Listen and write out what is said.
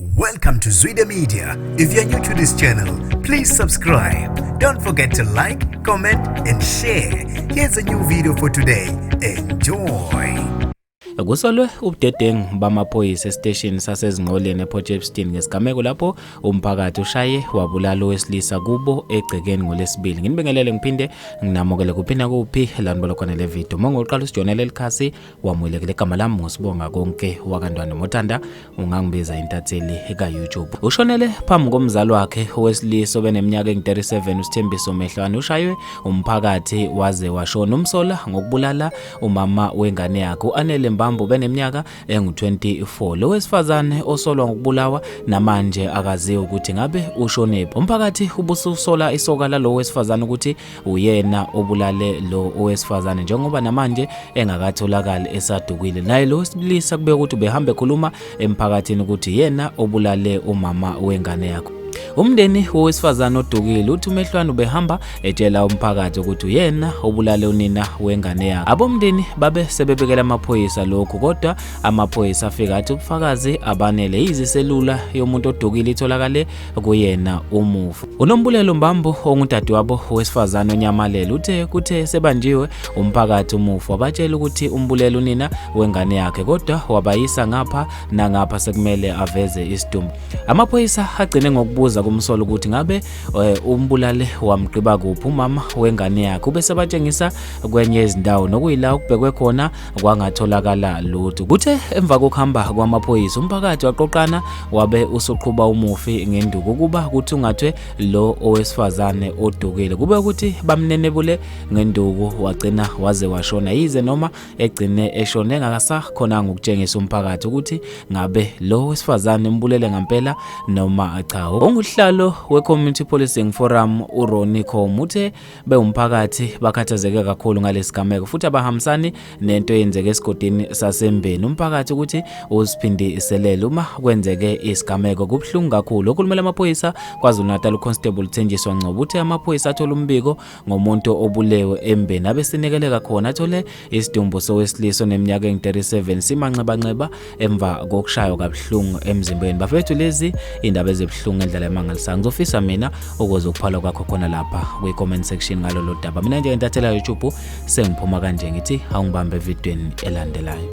Welcome to Zwide Media. If you're new to this channel, please subscribe. Don't forget to like, comment and share. Here's a new video for today. Enjoy. Kusolwe ubudedengu bamaphoyisa esiteshini sasezinqoleni ePort Shepstone ngesigameko lapho umphakathi ushaye wabulala owesilisa kubo egcekeni ngolesibili. Nginibingelele ngiphinde nginamukele kuphinda kuphi lanibolo khona le video. Uma ngoqala usijonela elikhasi wamulekela igama lami ngosibonga konke wakantwana motanda ungangibiza intatheli ka-youtube ushonele phambi komzali wakhe owesilisa obeneminyaka engu-37 usithembiso mehlwane ushaywe umphakathi waze washona umsola ngokubulala umama wengane yakhe u-anele mbambo beneminyaka engu-24 lo wesifazane osolwa ngokubulawa namanje akaziwa ukuthi ngabe ushonephi umphakathi ubususola isoka lalo wesifazane ukuthi uyena obulale lo owesifazane njengoba namanje engakatholakali esadukile naye lo wesilisa kubeka ukuthi ubehamba ekhuluma emphakathini ukuthi yena obulale umama wengane yakho umndeni wowesifazane odukile uthi umehlwane ubehamba etshela umphakathi ukuthi uyena obulale unina wengane yakhe abomndeni babe sebebekela amaphoyisa lokhu kodwa amaphoyisa afika athi ubufakazi abanele yiziselula yomuntu odukile itholakale kuyena umufi. UNombulelo Mbambo ongudadewabo wesifazane onyamalele uthe kuthe sebanjiwe umphakathi umufi wabatshela ukuthi umbulele unina wengane yakhe kodwa wabayisa ngapha nangapha sekumele aveze isidumbu. Amaphoyisa agcine ngokubuza kumsolo ukuthi ngabe eh, umbulale wamgqiba kuphi umama wengane yakhe ubesebatshengisa kwenye izindawo nokuyila ukubhekwe khona kwangatholakala lutho. Kuthe emva kokuhamba kwamaphoyisa umphakathi waqoqana wabe usuqhuba umufi ngenduku ukuba kuthungathwe lo owesifazane odukile. Kube ukuthi bamnenebule ngenduku wagcina waze washona yize noma egcine eshone engakasakhonanga ukutshengisa umphakathi ukuthi ngabe lo wesifazane umbulele ngampela noma cha. Onguhlalo we-Community Policing Forum uRonnie Khom uthe bewumphakathi bakhathazeke kakhulu ngalesigameko futhi abahambisani nento eyenzeke esigodini sasembeni umphakathi ukuthi uziphindiselele uma kwenzeke isigameko kubuhlungu kakhulu okhulumela amaphoyisa KwaZulu-Natal uConstable Thenjiswa Ngcobo uthe amaphoyisa athola umbiko ngomuntu obulewe embeni abesinekeleka khona athole Isidumbu sowesilisa oneminyaka engu-37 simanxebanxeba emva kokushaywa kabuhlungu emzimbeni. Bafethu lezi indaba ezibuhlungu endlela emangalisayo. Ngizofisa mina ukuze ukuphala kwakho khona lapha kwi-comment section ngalolo daba. Mina nje ngentathela YouTube sengiphuma kanje ngithi awungibambe evidweni elandelayo.